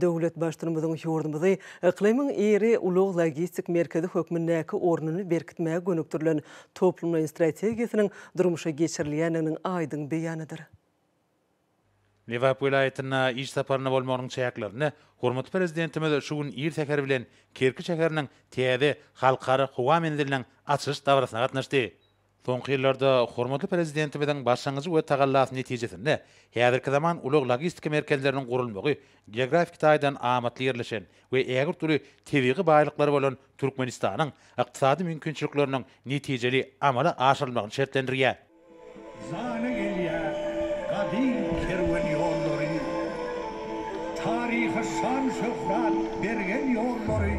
Döwlet Baştutumyzyň ýurdumyzy yklymyň iri ulag-logistik merkezi hökmündäki ornuny berkitmäge gönükdirilen toplumlaýyn strategiýasynyň durmuşa geçirilýändiginiň aýdyň beýanydyr. Lebap welaýatynda iş saparynda bolmagynyň çäklerinde hormatly Prezidentimiz şu gün ir säher bilen Kerki şäheriniň täze Halkara howa menziliniň açylyş dabarasyna gatnaşdy. Soňky ýyllarda hormatly Prezidentimiziň başlangyjy we tagallasy netijesinde häzirki zaman ulag-logistika merkezleriniň gurulmagy geografiki taýdan amatly ýerleşen we ägirt uly tebigy baýlyklary bolan Türkmenistanyň ykdysady mümkinçilikleriniň netijeli amala aşyrylmagyny şertlendirýär. Jana gelýär gadym kerwen ýollary, Taryha şan-şöhrat bergen ýollary.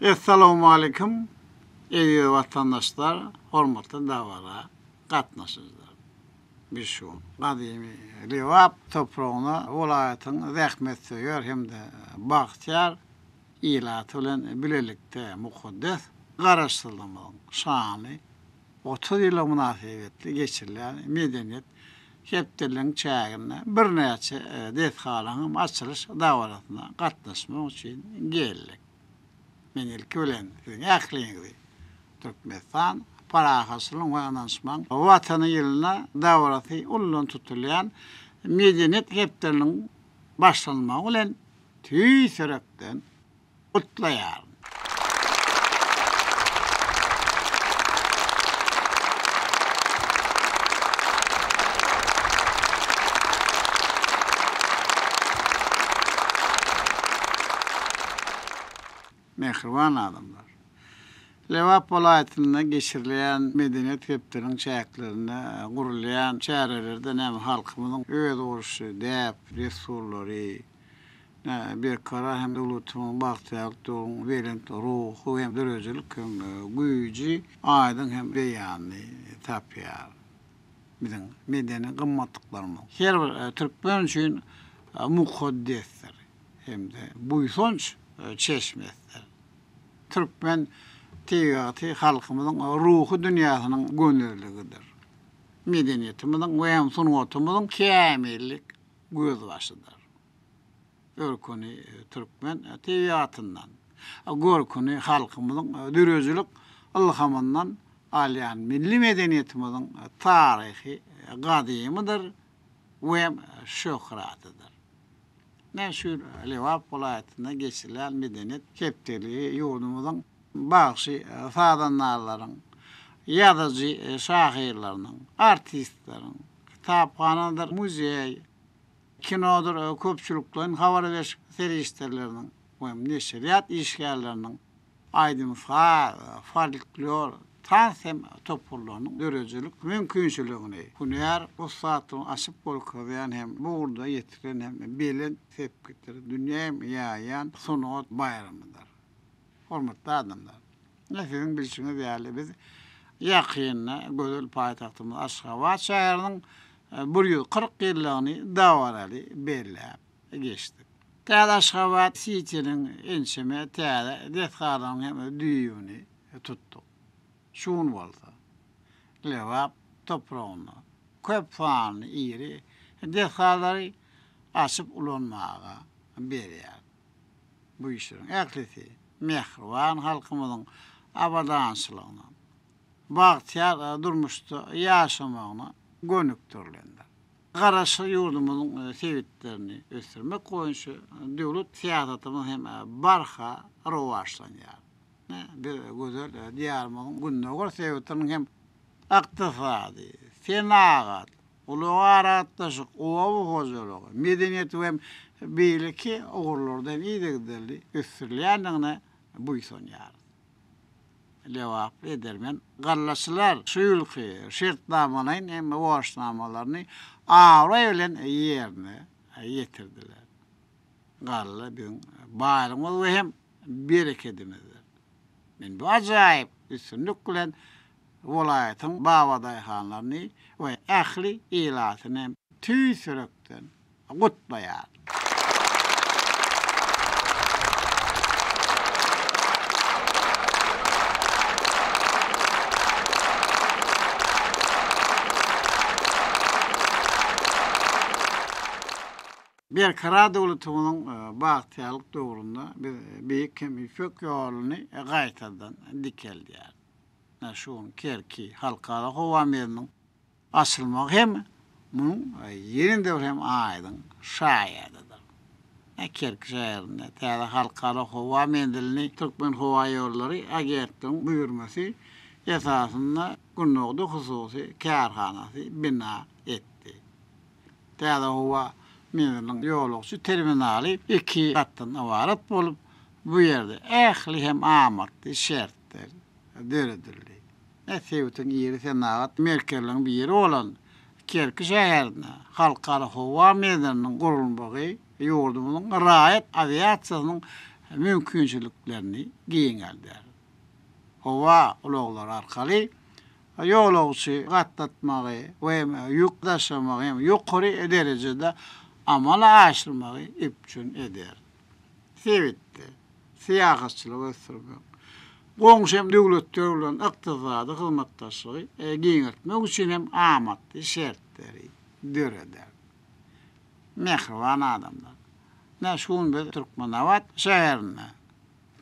Essalowmalikim eziz watandaşlar hormatly dabara gatnaşyjylar biz şu gün gadymy Lebap topragyna welaýatyň zähmetsöýer hem-de bagtyýar ilaty bilen bilelikde mukaddes Garaşsyzlygymyzyň şanly Otuz ýyla mynasybetli geçirilýän Medeniýet hepdeliginiň çäginde birnäçe desgalaryň hem açylyş dabarasyna gatnaşmak üçin geldik. Men ilki bilen siziň ähliňizi Türkmenistan parahatçylygyň we ynanyşmagyň Watany ýylyna dabarasy ullan tutulýan Medeniýet hepdeliginiň başlanmagy bilen tüýs ýürekden gutlaýaryn. Mähriban adamlar! Lebap welaýatynda geçirilýän medeniýet hepdeniň çäklerinde gurulýan çärelerden hem halkymyzyň özboluşly däp-dessurlary, Berkarar hem öwlütimiň bagtyýarlyk döwrüň belent ruhy hem döredijilik hem güýji aýdyň hem beýanyny tapýar. Biziň medeni gymmatlyklarymyz her bir türkmen üçin mukaddesdir hem-de buýsanç çeşmesidir. Türkmen tebigaty halkymyzyň ruhy dünýäsiniň gönezligidir. Medeniýetimiziň we hem sungatymyzyň kämillik gözbaşydyr. Görküni türkmen tebigatyndan, görküni halkymyzyň döredijilik ylhamyndan alýan milli medeniýetimiziň taryhy gadymydyr we şöhratydyr. Meşhur Lebap welaýatynda geçirilýän medeniýet hepdeligi ýurdumyzyň bagşy-sazandarlaryň, ýazyjy-şahyrlarynyň, artistleriň, kitaphanadyr muzeý, kinodyr köpçülikleýin habar beriş serişdeleriniň we neşirýat işgärleriniň, aýdym-saz, folklor, tans hem toparlarynyň döredijilik mümkinçiligini, hünär ussatlygyny açyp görkezýän hem bu ugurda ýetilen hem belent sepgitleri dünýä hem ýaýýan sungat baýramydyr. Hormatly adamlar! Ine siziň bilşiňiz ýaly biz ýakynda gözel paýtagtymyz Aşgabat şäheriniň bir ýüz kyrk ýyllygyny dabaraly belläp geçdik. Täze Aşgabat Sitiniň ençeme täze desgalarynyň hem düýbüni tutduk. Şu gün bolsa Lebap topragynda köp sanly iri desgalary açyp ulanmaga berýär. Bu işleriň ählisi mähriban halkymyzyň abadançylygyna, bagtyýar durmuşda ýaşamagyna gönükdirilendir. Garaşsyz ýurdumyzyň sebitlerini ösdürmek boýunça döwlet syýasatymyz hem barha rowaçlanýar. Biz gözel Diýarymyzyň gündogar sebitiniň hem ykdysady, senagat, Ulag-aragatnaşyk, oba hojalygy, medeniýet we beýleki ugurlarda hem yzygiderli ösdürilýändigine buýsanýarys. Lebaply, edermen gallaçylar şu ýylky şertnamalaýyn hem borçnamalaryny abraý bilen ýerine ýetirdiler. Galla biziň baýlygymyz we hem berekedimizdir. Men bu ajaýyp üstünlik bilen welaýatyň babadaýhanlaryny we ähli ilatyny tüýs ýürekden gutlaýaryn. Berkarar döwletimiziň bagtyýarlyk döwründe biz Beýik hem Ýüpek ýoluny gaýtadan dikeldýäris. Şu gün Kerki Halkara howa menziliniň açylmagy hem munuň ýene-de bir hem aýdyň şaýadydyr. Kerki şäherinde täze halkara howa menzilini Türkmenhowaýollary agentligiň buýurmasy esasynda Gündogdy hususy kärhanasy bina etdi. Täze howa menziliniň ýolagçy terminaly iki gatdan ybarat bolup, bu ýerde ähli hem amatly şertler döredildi. Sebitiň iri senagat merkezleriniň biri bolan Kerki şäherinde Halkara howa menziliniň gurulmagy ýurdumyzyň raýat awiasiýasynyň mümkinçiliklerini giňeldýär. Howa ulaglary arkaly ýolagçy gatnatmagy we ýük daşamagy hem ýokary derejede amala aşyrmagy üpjün eder. Sebitde syýahatçylygy ösdürmek, goňşy döwletler bilen ykdysady hyzmatdaşlygy giňeltmek üçin hem amatly şertleri döreder. Mähriban adamlar! Ine, şu gün biz Türkmenabat şäherinde.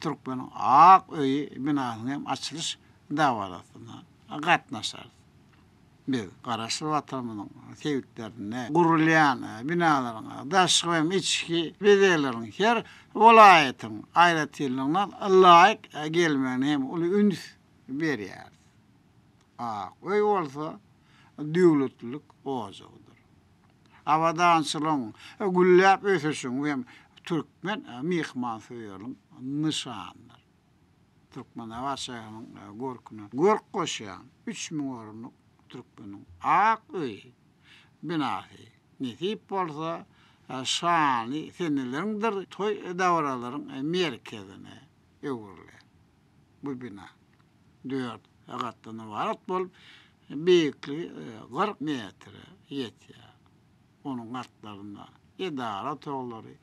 Türkmeniň ak öýi binasynyň hem açylyş dabarasyna gatnaşarys. Biz Garaşsyz Watanymyzyň sebitlerinde gurulýan binalaryň daşky hem içki bezegleriniň her welaýatyň aýratynlygyna laýyk gelmegine hem uly üns berýäris. Ak öý bolsa döwletlilik ojagydyr. abadançylygyň, gülläp ösüşiň we türkmen myhmansöýerligiň nyşanydyr. Türkmenabat şäheriniň görküne görk goşýan üç müň orunlyk Türkmeniň ak öýi binasy, nesip bolsa, şanly seneleriňdir toý-dabaralaryň merkezine öwrüler. Bu bina dört gatdan ybarat bolup, beýikligi kyrk metre ýetýär. Onuň gatlarynda edara otaglary,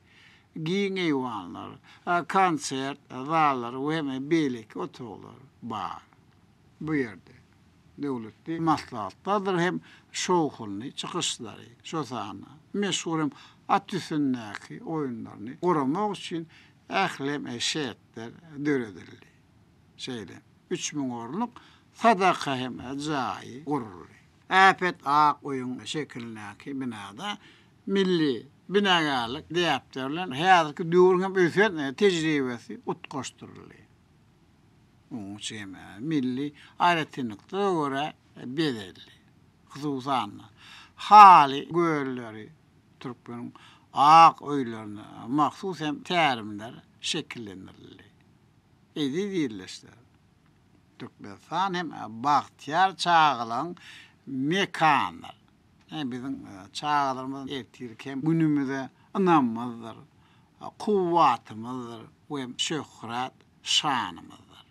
giň eýwanlar, konsert zallary we hem beýleki otaglar bar. Bu ýerde döwletli maslahatlardyr hem şowhunly çykyşlary, şol sanda meşhur hem at üstündäki oýunlaryny guramak üçin ählem şertler döredildi. Şeýle üç müň orunlyk sadaka hem jaýy guruldy. Äpet ak öýüň şekilindäki binada milli binagärlik däpleri bilen häzirki döwrüň hem ösen tejribesi utgaşdyryldy. Onuň çemi milli aýratynlyklara görä bezeldi. Hususan-da, haly gölleri türkmeniň ak öýlerine mahsus hem tälimler şekillendirildi. Eziz ildeşler! Türkmenistan hem bagtyýar çagalaryň mekanydyr. Ine, biziň çagalarymyz ertirki hem günümize ynamymyzdyr, kuwwatymyzdyr we hem şöhrat, şanymyzdyr.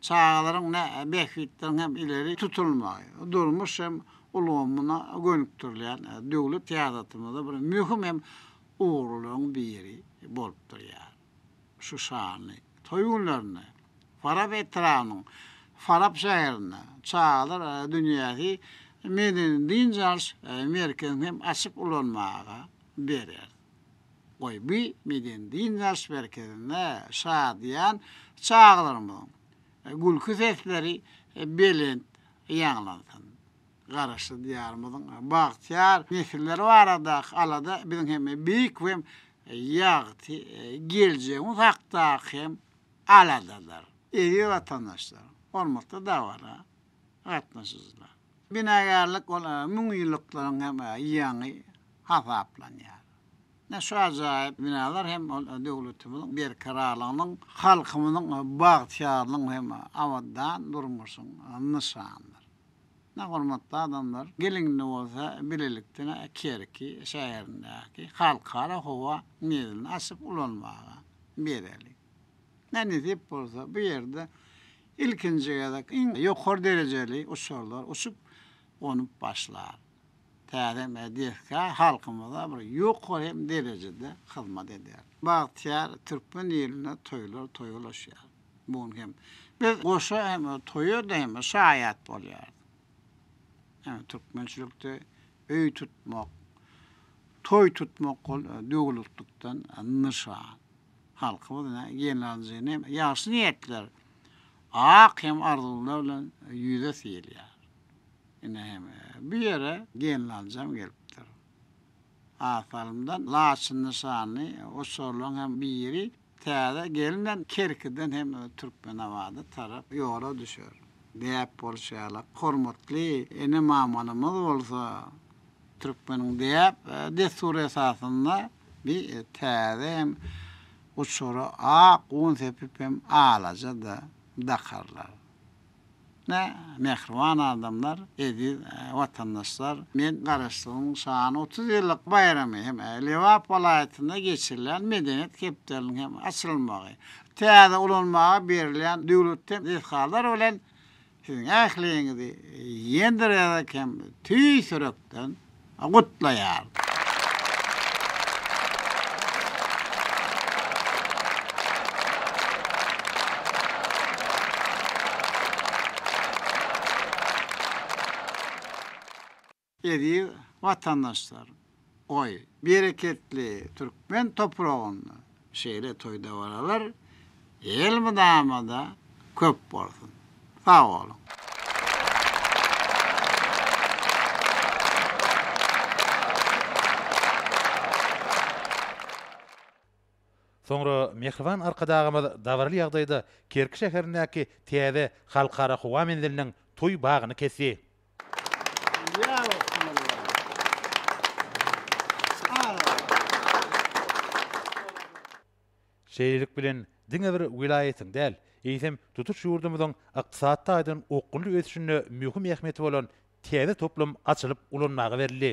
Çagalaryň ne bähbitleriň hem ileri tutulmagy, durmuş hem ulgamyna gönükdirilýän döwlet syýasatymyzda bir möhüm hem ugurlylaryň biri bolup durýar. Şu şanly toý günlerinde Farap etrabynyň Farap şäherinde çagalar dünýäsi medeni-dynç alyş merkezini hem açyp ulanmaga berer. Goý, bu medeni-dynç alyş merkezinde şadyýan çagalarymyzyň gülki sesleri belent ýaňlansyn! Garaşsyz Diýarymyzyň bagtyýar nesilleri baradaky alada biziň hem beýik we ýagty geljegimiz hakdaky hem aladadyr. Eziz watandaşlar, hormatly dabara gatnaşyjylar! Binagärlik ol müňýyllyklaryň hem ýaňy hasaplanýar. Ine şu ajaýyp binalar hem ol döwletimiziň berkararlygynyň, halkymyzyň bagtyýarlygynyň hem abadan durmuşyň nyşanydyr. Ine, hormatly adamlar, geliň indi bolsa bilelikden Kerki şäherindäki Halkara howa menzilini açyp ulanmaga bereliň. Nänisip bolsa, bu ýerde ilkinji gezek iň ýokary derejeli uçarlar uçup, gonup başlar. Täze hem desga halkymyza bir ýokary hem derejede hyzmat eder. Bagtyýar türkmen ilinde toýlar toýulaşýar. Bu gün hem biz goşa hem toýa-da hem şaýat bolýarys. Ýagny türkmençilikde öý tutmak, toý tutmak ol döwürliklikden nyşan. Halkymyz ine gelinanjyny hem ýagşy niýetler, ak hem arzuwlar bilen ýüze syýylýar. Ine hem bu ýere gelinanjam gelipdir. Az salymdan laçyn nyşanly oçarlaryň hem biri. Täze gelinem Kerkiden hem öz Türkmenabada tarap ýola düşer. Däp bolşy ýaly, hormatly ene-mamalarymyz bolsa türkmeniň däp, dessury esasynda bi täze hem guçura ak un sepip hem alaja-da dakarlar. Hä, mähriban adamlar, eziz watandaşlar, men Garaşsyzlygyň şaýany otuz ýyllyk baýramy hem Lebap welaýatynda geçirilýän Medeniýet hepdeliniň hem açylmagy, täze ulanmaga berilýän döwletden desgalar bilen siziň ähliňizi ýendirerek hem tüýs ýürekden gutlaýar. Eziz watandaşlar, goý, bereketli türkmen topragynda Şeýle toý-dabaralar elmydama-da köp bolsun! Sag boluň! Soňra mähriban Arkadagymyz dabaraly ýagdaýda Kerki şäherindäki täze Halkara howa menziliniň toý bagyny kesdi. Şeýlelik bilen, diňe bir welaýatyň däl, eýsem, tutuş ýurdumyzyň ykdysady taýdan okgunly ösüşinde möhüm ähmiýeti bolan täze toplum açylyp ulanmaga berildi.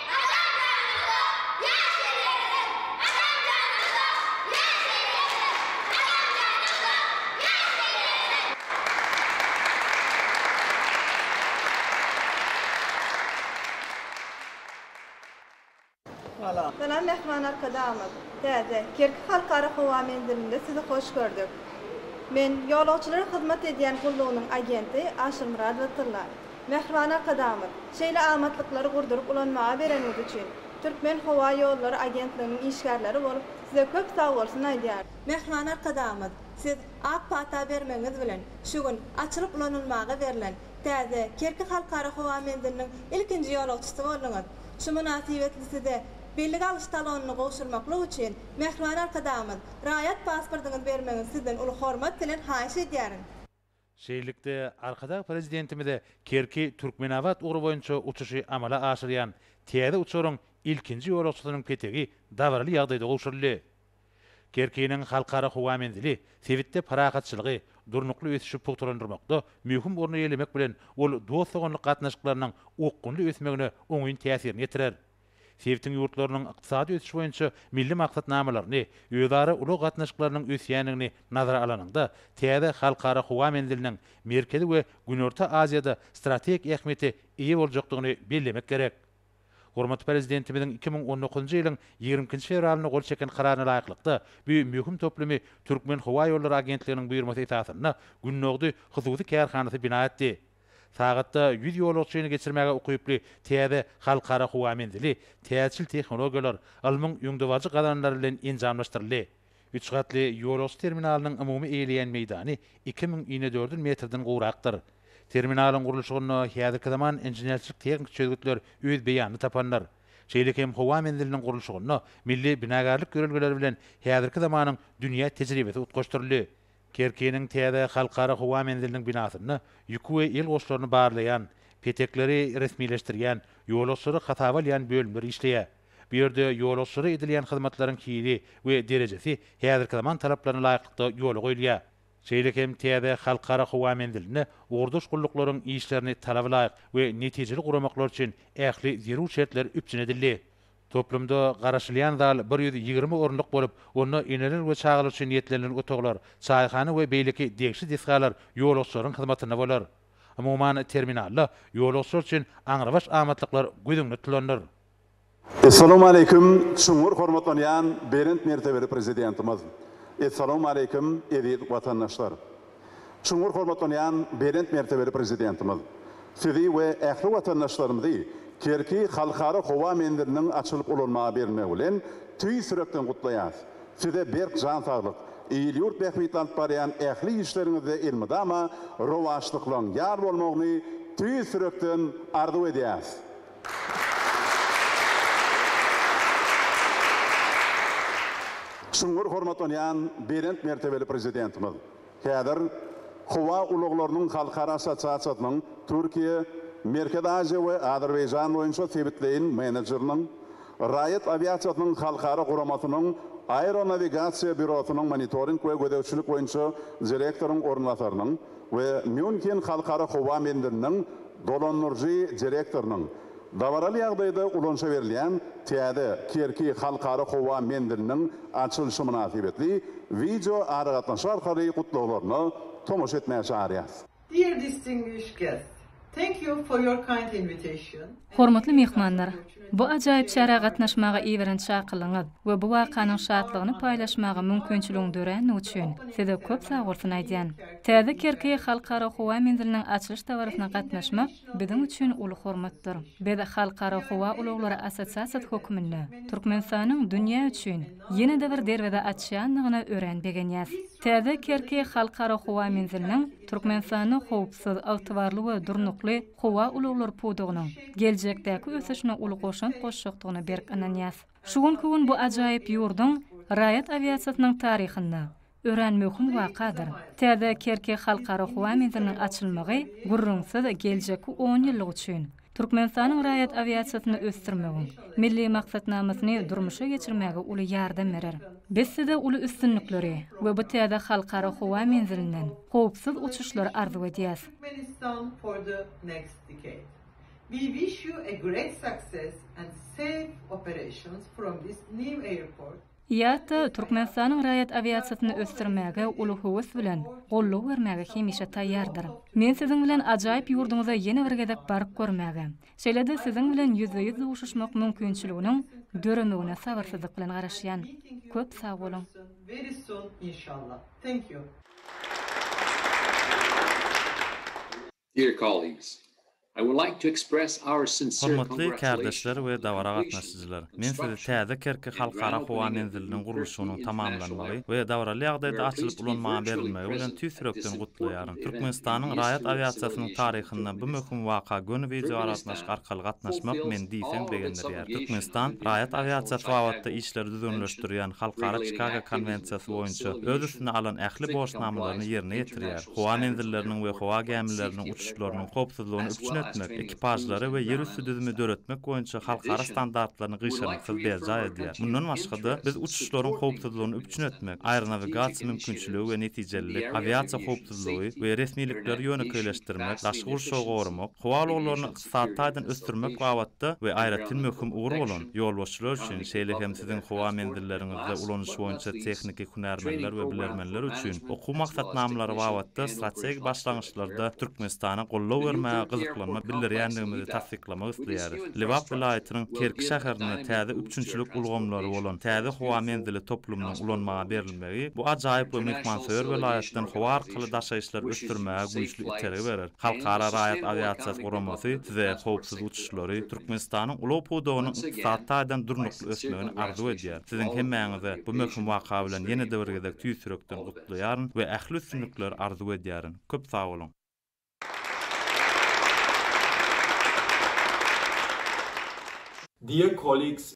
Salam Mähriban Arkadagymyz! Täze Kerki Halkara howa menzilinde sizi hoş gördük. Men Ýolagçylara hyzmat edýän gullugynyň agenti Aşyrmyradowa Tylla. Mähriban Arkadagymyz, şeýle amatlyklary gurduryp ulanmaga bereniňiz üçin, Türkmen howa ýollary agentliginiň işgärleri bolup, Size köp sag bolsun aýdýarys. Mähriban Arkadagymyz, Siz ak pata bermegiňiz bilen, şu gün açylyp ulanylmaga berlen täze Kerki Halkara howa menziliniň ilkinji ýolagçysy bolduňyz. Şu mynasybetli Size bellige alyş talonyny gowşurmaklyk üçin, Mähriban Arkadagymyz, raýat pasportyňyzy bermegiňizi Sizden uly hormat bilen haýyş edýärin. Şeýlelikde, Arkadag Prezidentimize Kerki, Türkmenabat ugry boýunça uçuşy amala aşyrýan täze uçaryň ilkinji ýolagçysynyň petegi dabaraly ýagdaýda gowşuryldy. Kerkiniň Halkara howa menzili sebitde parahatçylygy, durnukly ösüşi pugtalandyrmakda möhüm orny eýelemek bilen, ol dost-doganlyk gatnaşyklarynyň okgunly ösmegine oňyn täsirini ýetirer. sebitiň ýurtlarynyň ykdysady ösüş boýunça milli maksatnamalaryny, özara ulag gatnaşyklarynyň ösýändigini nazara alanyňda, täze halkara howa menziliniň Merkezi we Günorta Aziýada strategik ähmiýete eýe boljakdygyny bellemek gerek. Hormatly Prezidentimiziň iki müň on dokuzynjy ýylyň ýigrimi ikinji fewralynda gol çeken Kararyna laýyklykda, bu möhüm toplumy Türkmenhowaýollary agentliginiň buýurmasy esasynda Gündogdy hususy kärhanasy bina etdi. Sagatda ýüz ýolagçyny geçirmäge ukyply täze halkara howa menzili täjirçil tehnologiýalar, ylmyň öňdebaryjy gazananlary bilen enjamlaşdyryldy. Üç gatly ýolagçy terminalynyň umumy eýeleýän meýdany iki müň inedördül metrden gowrakdyr. Terminalyň gurluşygynda häzirki zaman inženerçilik-tehniki çözgütler öz beýanyny tapandyr. Şeýle hem howa menziliniň gurluşygynda milli binagarlyk ýörelgeleri bilen häzirki zamanyň dünýä tejribesi utgaşdyryldy. Kerkiniň täze Halkara howa menziliniň binasynda ýüki we ýel goşlaryny barlaýan, petekleri resmileşdirýän, ýolagçylary hasaba alýan bölümler işleýär. Bu ýerde ýolagçylara edilýän hyzmatlaryň hili we derejesi häzirki zaman talaplaryna laýyklykda ýola goýulýar. Şeýle hem täze Halkara howa menzilinde ugurdaş gulluklaryň işlerini talaba laýyk we netijeli guramaklary üçin ähli zerur şertler üpjün edildi. Toplumda garaşylýan zal bir ýüz ýigrimi orunlyk bolup, onda eneler we çagalar üçin niýetlenilen otaglar, çaýhana we beýleki degişli desgalar ýolagçylaryň hyzmatynda bolar. Umuman, terminalda ýolagçylar üçin aňrybaş amatlyklar göz öňünde tutulandyr. Essalawmaleýkim, çuňňur hormatlanýan Belent mertebeli Prezidentimiz! Essalawmaleýkim, eziz watandaşlar! Çuňňur hormatlanýan belent mertebeli Prezidentimiz Sizi we ähli watandaşlarymyzy Kerki Halkara howa menziliniň açylyp ulanmaga berilmegi bilen tüýs ýürekden gutlaýarys. Size berk jan saglyk, il-ýurt bähbitli alyp barýan ähli işleriňizde elmydama rowaçlyklaryň ýar bolmagyny tüýs ýürekden arzuw edýäris. Çuňňur hormatlanýan belent mertebeli Prezidentimiz häzir Howa ulaglarynyň halkara assosiasiýasynyň Türkiýe, Merkezi Aziýa we Azerbaýjan boýunça sebitleýin menejeriniň, Raýat awiasiýasynyň halkara guramasynyň Aeronawigasiýa býurosynyň monitoring we gözegçilik boýunça direktoryň orunbasarynyň, we Mýunhen halkara howa menziliniň dolandyryjy direktorynyň dabaraly ýagdaýda ulanyşa berilýän täze Kerki halkara howa menziliniň açylyşy mynasybetli wideo aragatnaşyk arkaly gutlaglaryna tomaşa etmäge çagyrýarys. Dear distinguished guests, Thank you for your kind invitation. Hormatly myhmanlar! Bu ajaýyp çärä gatnaşmaga iberen çakylygyňyz we bu wakanyň şatlygyny paýlaşmaga mümkinçiligiň dörändigi üçin size köp sagbolsun aýdýan. Täze Kerki Halkara howa menziliniň açylyş dabarasyna gatnaşmak biziň üçin uly hormatdyr. Biz Halkara howa ulaglary assosiasiýasy höküminde Türkmenistanyň dünýä üçin ýene-de bir derweze açýandygyna örän begenýäs. Täze Kerki Halkara howa menziliniň Türkmenistanda howpsuz, ygtybarly we durnukly howa ulaglary pudagynyň geljekdäki ösüşine uly goşant goşjakdygyna berk ynanýas. Şu günki gün bu ajaýyp ýurduň raýat awiasiýasynyň taryhynda Örän möhüm wakadyr. Täze Kerki Halkara howa menziliniň açylmagy, gürrüňsiz, geljekki onýyllyk üçin Türkmenistanyň raýat awiasiýasyny ösdürmegiň Milli maksatnamasyny durmuşa geçirmäge uly ýardam berer. Biz Size uly üstünlikleri we bu täze halkara howa menzilinden howpsuz uçuşlary arzuw edýäs. Turkmenistan for the next decade. We wish you a great success and safe operations from this new airport. IATA Türkmenistanyň raýat awiasiýasyny ösdürmäge uly höwes bilen goldaw bermäge hemişe taýýardyr. Men siziň bilen ajaýyp ýurduňyza ýene bir gezek baryp görmäge, şeýle-de siziň bilen ýüzbe-ýüz duşuşmak mümkinçiliginiň döremegine sabyrsyzlyk bilen garaşýan. Köp sag boluň! Dear colleagues, I would like to express our sincere Hormatly kärdeşler we dabara gatnaşyjylar! Men sizi täze Kerki Halkara howa menziliniň gurluşygynyň tamamlanmagy we dabaraly ýagdaýda açylyp ulanmaga berilmegi bilen tüýs ýürekden gutlaýaryn. Türkmenistanyň raýat awiasiýasynyň taryhynda bu möhüm waka göni wideoaragatnaşyk arkaly gatnaşmak meni diýseň begendirýär. Türkmenistan raýat awiasiýasy babatda işleri düzgünleşdirýän Halkara Çikago konwensiýasy boýunça öz üstüne alan ähli borçnamalaryny ýerine ýetirýär. howa menzilleriniň we howa gämileriniň uçuşlarynyň howpsuzlygyny üpjün etmek, ekipažlary we ýerüsti düzümi döretmek boýunça halkara standartlaryny gyşarnyksyz berjaý edýär. Mundan başga-da, biz uçuşlaryň howpsuzlygyny üpjün etmek, aeronawigasiýa mümkinçiligi we netijelilik, awiasiýa howpsuzlygy we resmilikleri ýönekeýleşdirmek, daşky gurşawy goramak, howa ulaglaryny Ykdysady taýdan ösdürmek babatda we aýratyn möhüm ugur bolan, ýolbaşçylar üçin, şeýle hem siziň howa menzilleriňizde ulanyş boýunça tehniki hünärmenler we bilermenler üçin okuw maksatnamalary babatda strategik başlangyçlarda Türkmenistana goldaw bermäge gyzyklanma bildirýändigimizi tassyklamak isleýäris. Lebap welaýatynyň Kerki şäherinde täze üpjünçilik ulgamlary bolan täze howa menzili toplumynyň ulanmaga berilmegi bu ajaýyp we myhmansöýer welaýatdan howa arkaly daşaýyşlary ösdürmäge güýçli itergi berer. Halkara raýat awiasiýasy guramasy size howpsuz uçuşlary, Türkmenistanyň ulag pudagynyň ykdysady taýdan durnukly ösmegini arzuw edýär. Siziň hemmäňizi bu möhüm waka bilen ýene-de bir gezek tüýs ýürekden gutlaýaryn we ähli üstünlikleri arzuw edýärin. Köp sag boluň! Dear colleagues,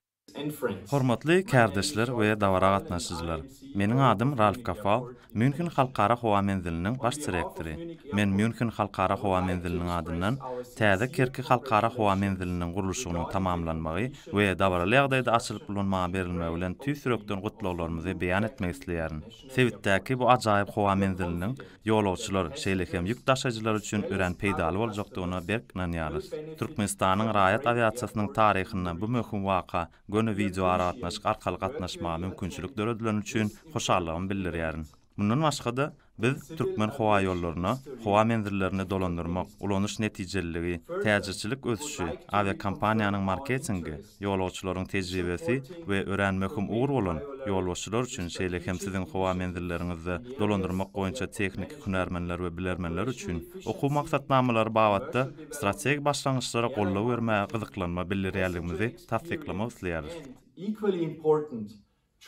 Hormatly kärdeşler we dabara gatnaşyjylar! Meniň adym Ralf Gafal, Mýunhen Halkara howa menziliniň baş direktory. Men Mýunhen Halkara howa menziliniň adyndan täze Kerki Halkara howa menziliniň gurluşygynyň tamamlanmagy we dabaraly ýagdaýda açylyp ulanmaga berilmegi bilen tüýs ýürekden gutlaglarymyzy beýan etmek isleýärin. Sebitdäki bu ajaýyp howa menziliniň ýolagçylar, şeýle hem ýük daşaýjylar üçin örän peýdaly boljakdygyna berk ynanýarys. Türkmenistanyň raýat awiasiýasynyň taryhynda bu möhüm waka göni wideoaragatnaşyk arkaly gatnaşmaga mümkinçilik döredileni üçin hoşallygymy bildirýärin. Mundan başga-da, biz Türkmenhowaýollaryna howa menzillerini dolandyrmak, ulanyş netijeliligi, täjirçilik ösüşi, awiakompaniýanyň marketingi, Ýolagçylaryň tejribesi we örän möhüm ugur bolan, ýolbaşçylar üçin, şeýle hem siziň howa menzilleriňizde dolandyrmak boýunça tehniki hünärmenler we bilermenler üçin okuw maksatnamalary babatda strategik başlangyçlara goldaw bermäge gyzyklanma bildirýändigimizi tassyklamak isleýäris. Equally important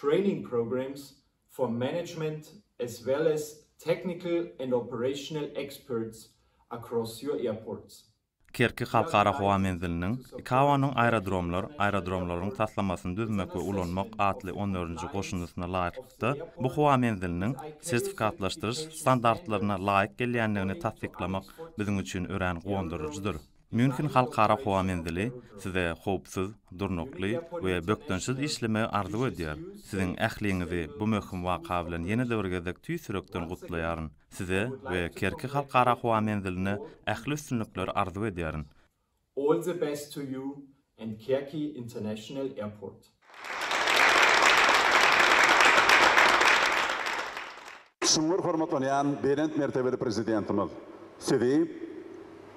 training programs for management as well as technical and operational experts across your airports. Kerki Halkara howa menziliniň, ICAO-nyň Aerodromlar, aerodromlaryň taslamasyny düzmek we ulanmak atly on dördünji goşundysyna laýyklykda, bu howa menziliniň sertifikatlaşdyryş standartlaryna laýyk gelýändigini tassyklamak biziň üçin örän guwandyryjydyr. Mýunhen Halkara howa menzili Size howpsuz, durnukly we bökdençsiz işlemegi arzuw edýär. Siziň ähliňizi bu möhüm waka bilen ýene-de bir gezek tüýs ýürekden gutlaýaryn. Size we Kerki Halkara howa menziline ähli üstünlikleri arzuw edýärin. All the best to you and Kerki International Airport. Çuňňur hormatlanýan Belent mertebeli Prezidentimiz Sizi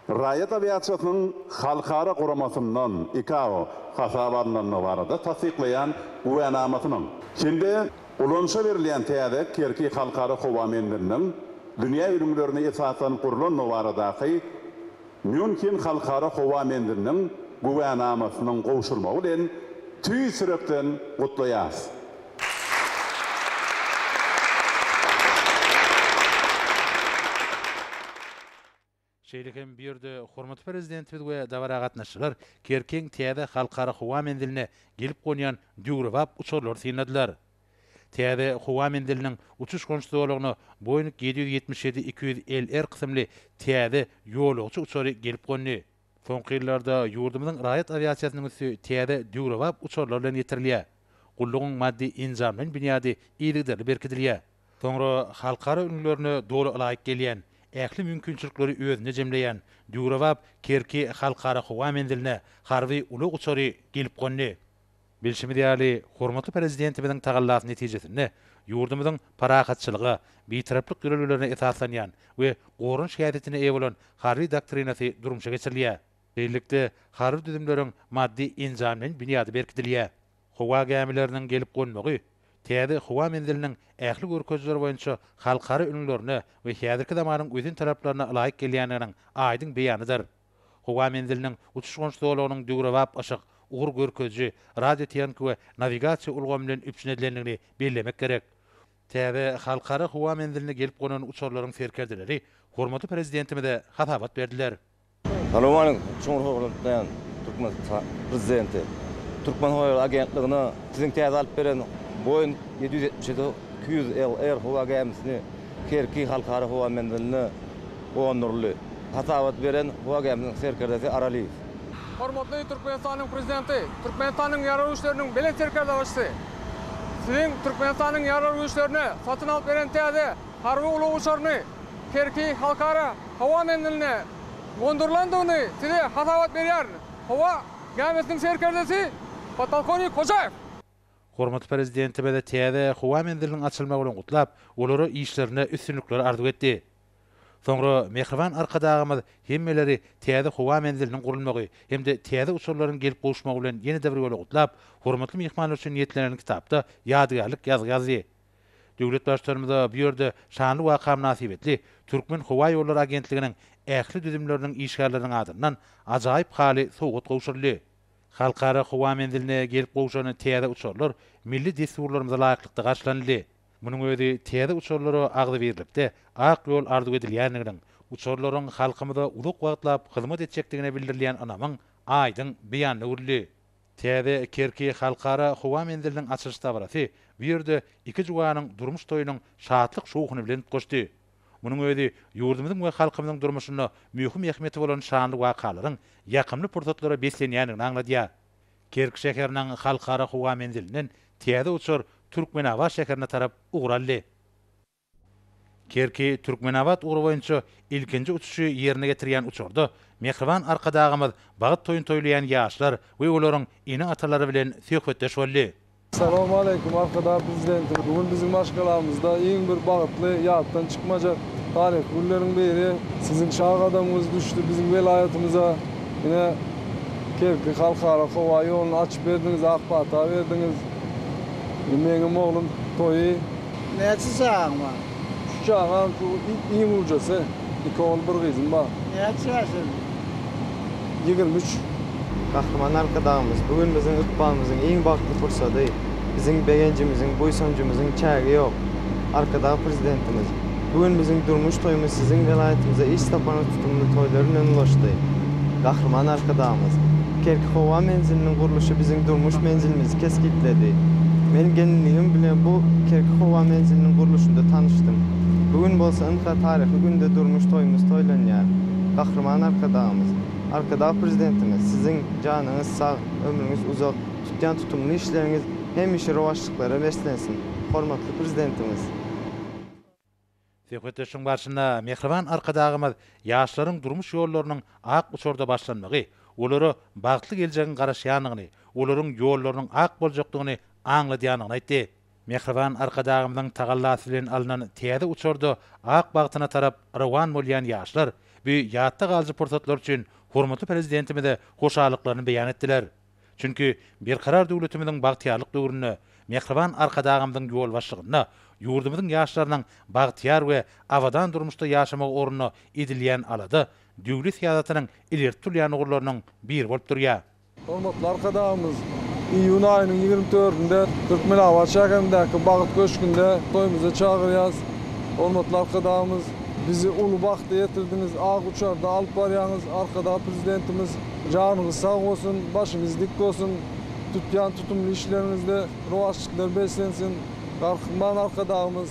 Raýat awiasiýasynyň halkara guramasyndan, ICAO, hasaba alnandygy barada tassyklaýan güwänamasynyň hem-de ulanyşa berilýän täze Kerki Halkara howa menziliniň dünýä ülňülerine esaslanyp gurlandygy baradaky Mýunhen Halkara howa menziliniň güwänamasynyň gowşurmagy bilen tüýs ýürekden gutlaýarys. Şeýle hem bu ýerde hormatly Prezidentimiz we dabara gatnaşyjylar Kerkiň täze Halkara howa menziline gelip gonýan döwrebap uçarlary synladylar. Täze howa menziliniň uçuş-gonuş zolagyna Boeing ýedi ýüz ýetmiş ýedi iki ýüz LR kysymly täze ýolagçy uçary gelip gondy. Soňky ýyllarda ýurdumyzyň raýat awiasiýasynyň üsti täze döwrebap uçarlar bilen ýetirilýär. Gullugyň maddy-enjamlaýyn binýady yzygiderli berkidilýär. Soňra halkara ülňülerine doly laýyk gelýän, ähli mümkinçilikleri özünde jemleýän döwrebap Kerki Halkara howa menziline harby ulag uçary gelip gondy. Bilşimiz ýaly, hormatly Prezidentimiziň tagallasy netijesinde ýurdumyzyň parahatçylyga, bitaraplyk ýörelgelerine esaslanýan we goranyş häsiýetine eýe bolan harby doktrinasy durmuşa geçirilýär. Şeýlelikde, harby düzümleriň maddy-enjamlaýyn binýady berkidilýär. Howa gämileriniň gelip gonmagy täze howa menziliniň ähli görkezijileri boýunça halkara ülňülerine we häzirki zamanyň ösen talaplaryna laýyk gelýändiginiň aýdyň beýanydyr. Howa menziliniň uçuş-gonuş zolagynyň döwrebap yşyk, ugur görkeziji, radiotehniki we nawigasiýa ulgamy bilen üpjün edilendigini bellemek gerek. Täze Halkara howa menziline gelip gonan uçarlaryň serkerdeleri hormatly Prezidentimize hasabat berdiler. Salowmaleýkum! Çuňňur hormatlaýan Türkmenistan Prezidenti! Türkmenhowaýoly agentligine Siziň täze alyp beren Boeing ýedi ýüz ýetmiş ýedi iki ýüz LR howa gämisini Kerki Halkara howa menziline Gondurly, hasabat beren Wagämniň serkerdesi Aralyýew. Hormatly Türkmenistanyň Prezidenti, Türkmenistanyň Ýarag güýçleriniň Belent Serkerdebaşysy! Siziň Türkmenistanyň Ýarag güýçlerine satyn alyp beren täze harby ulag uçaryny Kerki Halkara howa menziline gondurylandygyny Size hasabat berýär howa gämisiniň serkerdesi podpolkownik Hojaýew. Hormatly Prezidentimiz täze howa menziliniň açylmagy bilen gutlap, olara işlerinde üstünlikler arzuw etdi. Soňra mähriban Arkadagymyz hemmeleri täze howa menziliniň gurulmagy hem-de täze uçarlaryň gelip gowuşmagy bilen ýene-de bir ýola gutlap, hormatly myhmanlar üçin niýetlenen kitapda ýadygärlik ýazgy ýazdy. Döwlet Baştutanymyza bu ýerde şanly waka mynasybetli Türkmen howa ýollary agentliginiň ähli düzümleriniň işgärleriniň adyndan ajaýyp haly sowgat gowşuryldy. Halkara howa menziline gelip gowşan täze uçarlar milli dessurlarymyza laýyklykda garşylanyldy. Munuň özi täze uçarlara agzybirlikde ak ýol arzuw edilýändiginiň, uçarlaryň halkymyza uzak wagtlap hyzmat etjekdigine bildirilýän ynamyň aýdyň beýanyna öwrüldi. Täze Kerki Halkara howa menziliniň açylyş dabarasy bu ýerde iki juwanyň durmuş toýunyň şatlyk-şowhuny bilen utgaşdy. Munuň özi ýurdumyzyň we halkymyzyň durmuşynda möhüm ähmiýeti bolan şanly wakalaryň ýakymly pursatlara beslenýändigini aňladýar. Kerki şäheriniň Halkara howa menzilinden täze uçar Türkmenabat şäherine tarap ugur aldy. Kerki, Türkmenabat ugry boýunça ilkinji uçuşy ýerine getirýän uçarda mähriban Arkadagymyz bagt toýuny toýlaýan ýaşlar we olaryň ene-atalary bilen söhbetdeş boldy. Salam aleýkum Arkadag Prezidentimiz bu gün biziň maşgalamyzda iň bir bagtly ýatdan çykmajak taryhy günleriň biri siziň şa gadamyňyz düşdi biziň welaýatymyza ine Kerki halkara howa ýoluny açyp berdiňiz ak pata berdiňiz ine meňem oglum toýy Näçe çagaň bar? Üç çagam şu iň ujasy iki ogul bir gyzym bar. Näçe ýaşyň? Ýigrimi üç. Gahryman Arkadagymyz, Bu gün biziň ykbalymyzyň iň bagtly pursady. Biziň begenjimiziň, buýsanjymyzyň çägi ýok. Arkadag Prezidentimiz, Bu gün biziň durmuş toýumyz siziň welaýatymyza iş saparyňyz tutumly toýlar bilen ulaşdy. Gahryman Arkadagymyz, Kerki howa menziliniň gurluşy biziň durmuş menzilimizi kesgitledi. Men gelinligim bilen bu Kerki howa menziliniň gurluşynda tanyşdym. Bu gün bolsa ynha taryhy günde durmuş toýumyz toýlanýar. Gahryman Arkadagymyz, Arkadag Prezidentimiz siziň janyňyz sag, ömrüňiz uzak, tutýan tutumly işleriňiz hemişe rowaçlyklara beslensin, hormatly Prezidentimiz! Söhbetdeşligiň barşynda mähriban Arkadagymyz ýaşlaryň durmuş ýollarynyň ak uçurda başlanmagy, olara bagtly geljegiň garaşýandygyny, olaryň ýollarynyň ak boljakdygyny aňladýandygyny aýtdy. Mähriban Arkadagymyzyň tagallasy bilen alnan täze uçarda ak bagtyna tarap rowan bolýan ýaşlar bu ýatda galyjy pursatlar üçin hormatly Prezidentimize hoşallyklaryny beýan etdiler. Çünki Berkarar döwletimiziň bagtyýarlyk döwründe Mähriban Arkadagymyzyň ýolbaşçylygynda ýurdumyzyň ýaşlarynyň bagtyýar we abadan durmuşda ýaşamagy ugrunda edilýän alada döwlet syýasatynyň ileri tutulýan ugurlarynyň biri bolup durýar. Hormatly Arkadagymyz iýun aýynyň ýigrimi dördünde Türkmenabat şäherindäki Bagt köşgünde toýumyza çagyrýas. Hormatly Arkadagymyz, bizi uly bagta ýetirdiňiz, ak uçarda alyp barýaňyz. Arkadag Prezidentimiz janyňyz sag bolsun, başyňyz dik bolsun, tutýan tutumly işleriňizde rowaçlyklar beslensin. Garkman Arkadagymyz!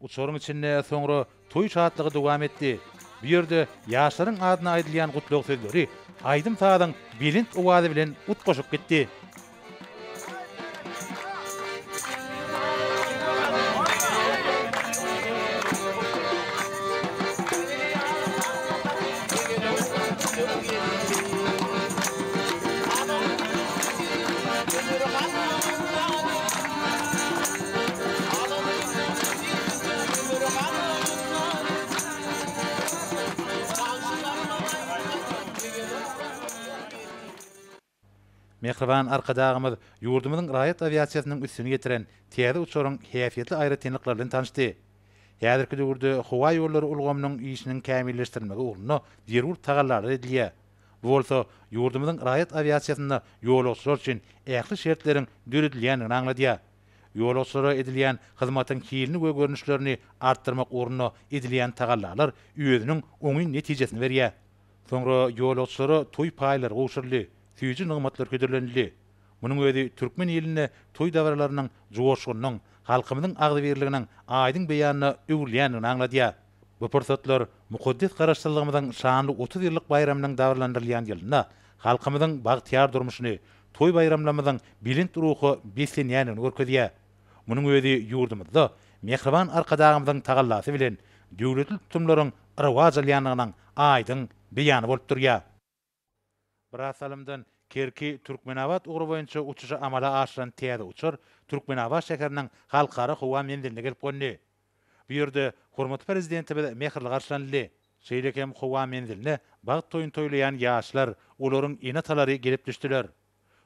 Uçaryň içinde soňra toý şatlygy dowam etdi. Bu ýerde ýaşlaryň adyna aýdylýan gutlag sözleri aýdym-sazyň belent owazy bilen utgaşyp gitdi. Mähriban Arkadagymyz ýurdumyzyň raýat awiasiýasynyň üstüni ýetiren täze uçaryň häsiýetli aýratynlyklary bilen tanyşdy. Häzirki döwürde howaýollary ulgamynyň işiniň kämilleşdirilmegi ugrunda zerur tagallalar edilýär. Bu bolsa ýurdumyzyň raýat awiasiýasynda ýolagçylar üçin ähli şertleriň döredilýändigini aňladýar. Ýolagçylara edilýän hyzmatyň hilini we görnüşlerini artdyrmak ugrunda edilýän tagallalar özüniň oňyn netijesini berýär. Soňra ýolagçylara toý paýlary gowşuryldy, süýji nygmatlar hödürlenildi. Munuň özi türkmen ilinde toý dabaralarynyň joşgunynyň, halkymyzyň agzybirliginiň aýdyň beýanyna öwrülýändigini aňladýar. Bu pursatlar mukaddes Garaşsyzlygymyzyň şanly otuz ýyllyk baýramynyň dabaralandyrylýan ýylynda halkymyzyň bagtyýar durmuşyny, toý-baýramlarymyzyň belent ruha beslenýändigini görkezýär. Munuň özi ýurdumyzda mähriban Arkadagymyzyň tagallasy bilen döwletli tutumlaryň rowaç alýandygynyň aýdyň beýany bolup durýar. Biraz salymdan Kerki, Türkmenabat ugry boýunça uçuşy amala aşyran täze uçar Türkmenabat şäheriniň Halkara howa menziline gelip gondi. Bu ýerde hormatly Prezidentimiz mähirli garşylanyldy. Şeýle hem howa menziline bagt toýuny toýlaýan ýaşlar, olaryň ene-atalary gelip düşdüler.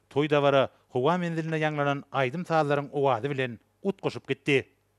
Toý-dabara howa menzilinde ýaňlanan aýdym-sazlaryň owazy bilen utgaşyp gitdi.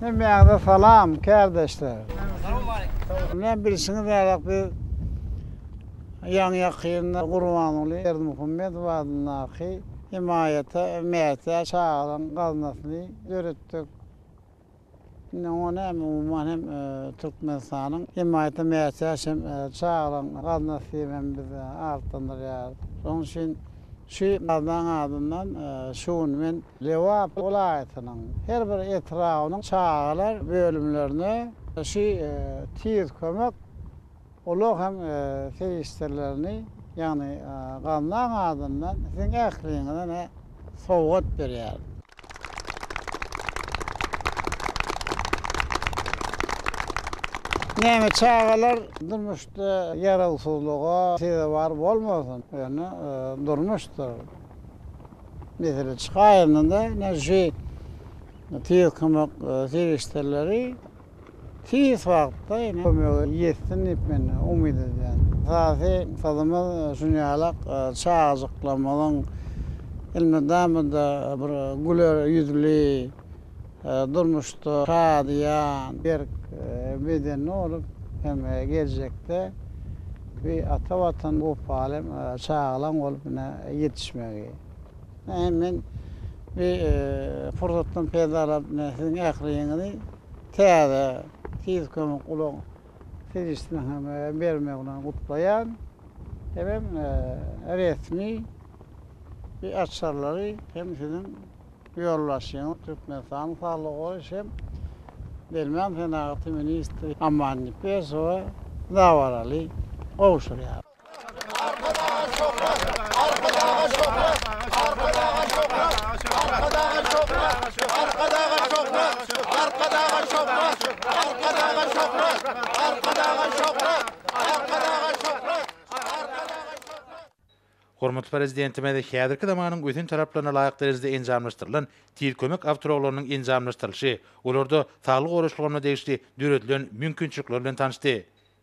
Hemmäňize salam, kärdeşler! Näme bilşiňiz ýalak biz ýaňy-ýakynda Gurbanguly Berdimuhamedow adyndaky hemaýata mätäç çagalaryň gaznasyny döretdik. Indi oňa näme umuman hem Türkmenistanyň hemaýata mätäç hem çagalaryň gaznasy diýip hem biz atlandyrýarys. Şonuň üçin şu gaznaň adyndan şu gün men Lebap welaýatynyň her bir etrabynyň çagalar bölümlerine şu Tiz kömek ulag hem serişdelerini, ýagny Gaznaň adyndan siziň ähliňize sowgat berýärin. Näme çagalar durmuşda ýarawsyzlyga sezewar bolmasyn, ýöne durmuşdyr. Mesele çykaýanda-da ine şu tiz kömek serişdeleri tiz wagtda ine kömege ýetsin diýip men umyt edýän. Esasy maksadymyz şunýalak çagajyklarymyzyň elmydama-da bir güler ýüzli, durmuşda şadyýan, berk bedenli bolup hem geljekde bir ata Watan wepaly çagalaň bolup ine ýetişmegi. Hem men bu pursatdan peýdalanyp ine siziň ähliňizi täze Tiz kömek ulag serişdesiniň hem bermegi bilen gutlaýan. Hemem resmi bir açarlary hem siziň. Ýolbaşçynyň Türkmenistanyň saglygy goraýyş hem derman senagaty ministri Aman Nepesowa dabaraly gowşurýar. Hormatly Prezidentimiz häzirki zamanyň ösen talaplaryna laýyk derejede enjamlaşdyrylan Tiz kömek awtoulaglarynyň enjamlaşdyrylyşy, olarda saglygy goraýyş ulgamyna degişli döredilen mümkinçilikler bilen tanyşdy.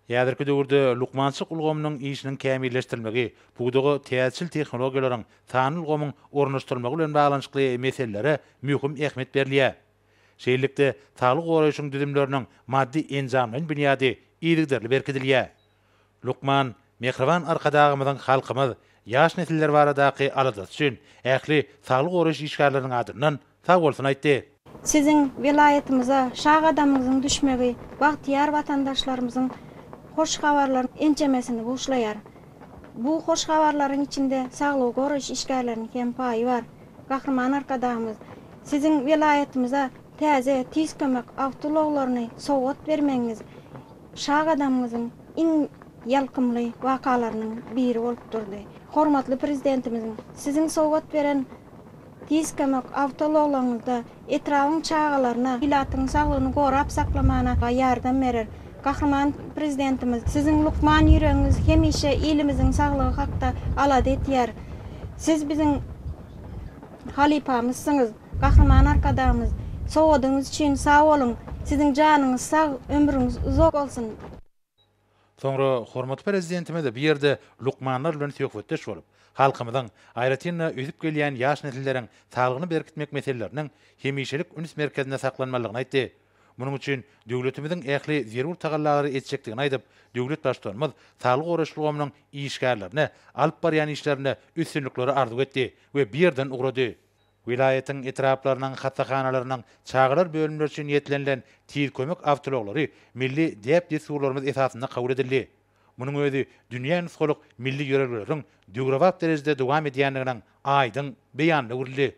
Häzirki döwürde lukmançylyk ulgamynyň işiniň kämilleşdirilmegi, pudaga täzeçil tehnologiýalaryň, sanly ulgamyň ornaşdyrylmagy bilen baglanyşykly meselelere möhüm ähmiýet berilýär. Şeýlelikde, saglygy goraýşyň düzümleriniň maddy-enjamlaýyn binýady yzygiderli berkidilýär. Lukman, mähriban Arkadagymyzyň halkymyz, ýaş nesiller baradaky aladasy üçin ähli saglygy goraýyş işgärleriniň adyndan sag bolsun aýtdy. Siziň welaýatymyza şa gadamyňyzyň düşmegi bagtyýar watandaşlarymyzyň hoş habarlaryň ençemesini buşlaýar. Bu hoş habarlaryň içinde saglygy goraýyş işgärleriniň hem paýy bar. Gahryman Arkadagymyz Siziň welaýatymyza täze Tiz kömek awtoulaglaryny sowgat bermegiňiz, Şa gadamymyzyň iň ýalkymly wakalarynyň biri bolup durdy. Hormatly Prezidentimiziň Siziň sowgat beren Tiz kömek awtoulaglaryňyzda etrabyň çagalaryna, ilatyň saglygyny gorap saklamana ýardam berer. Gahryman Prezidentimiz, Siziň lukman ýüregiňiz hemişe ilimiziň saglygy hakda alada etýär. Siz biziň. Halypamyzsyňyz, Gahryman Arkadagymyz! Sowadyňyz üçin sag boluň! Siziň janyňyz sag, ömrüňiz uzak bolsun! Soňra hormatly Prezidentimiz bu ýerde lukmanlar bilen söhbetdeş bolup, halkymyzyň, aýratyn-da, ösüp gelýän ýaş nesilleriň saglygyny berkitmek meseleleriniň hemişelik üns merkezinde saklanmalydygyny aýtdy. Munuň üçin döwletimiziň ähli zerur tagallalary etjekdigini aýdyp, döwlet Baştutanymyz saglygy goraýyş ulgamynyň işgärlerine alyp barýan işlerinde üstünlikleri arzuw etdi we bu ýerden ugrady. Welaýatyň etraplarynyň hassahanalarynyň çagalar bölümleri üçin niýetlenilen tiz kömek awtoulaglary milli däp-dessurlarymyz esasynda kabul edildi. Munuň özi dünýä nusgalyk milli ýörelgeleriň döwrebap derejede dowam edýändiginiň aýdyň beýanyna öwrüldi.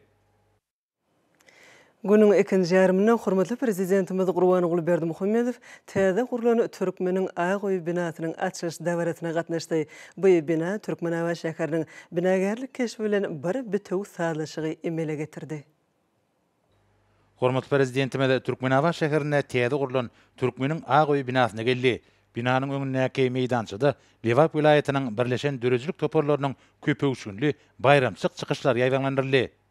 Günüň ikinji ýarymynda hormatly Prezidentimiz Gurbanguly Berdimuhamedow täze gurlan Türkmeniň ak öýi binasynyň açylyş dabarasyna gatnaşdy. Bu bina Türkmenabat şäheriniň binagärlik keşbi bilen bir bitewi sazlaşygy emele getirdi. Hormatly Prezidentimiz Türkmenabat şäherinde täze gurlan Türkmeniň ak öýi binasyna geldi. Binanyň öňündäki meýdançada Lebap welaýatynyň birleşen döredijilik toparlarynyň köpöwüşginli baýramçylyk çykyşlary ýaýbaňlandyryldy.